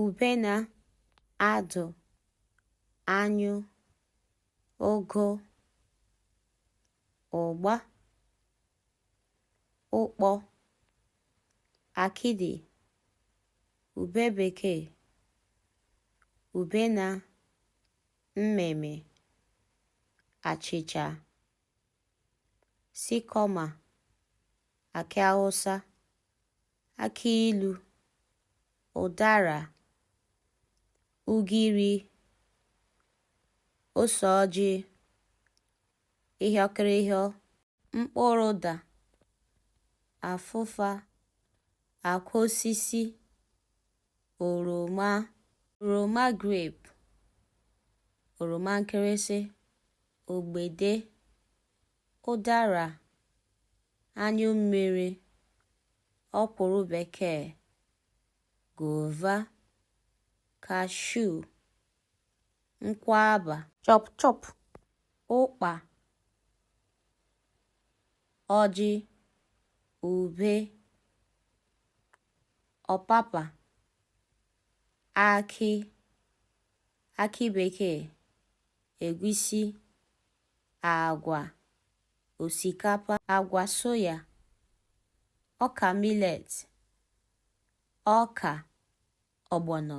Ubena, adụ, anyụ, ogo, ụgba, ụkpọ, akidi, ube bekee, ubena, mmịmị, achịcha. sikọma, akị awụsa, akị ilu, ụdara, ugiri, ose ọjị, ịhịọkịrịhịọ, mkpụrụ ụda, afụfa, akwa osisi, oroma oroma grape oroma nkịrịsị ogbede ụdara anyụ mmiri ọkwụrụ bekee guava cashew nkwaba chop chop ụkpa ọjị ube ọpapa, akị, akị bekee, egwusi, agwa, osikapa, agwa soya, ọka millet, ọka, ọgbọnọ.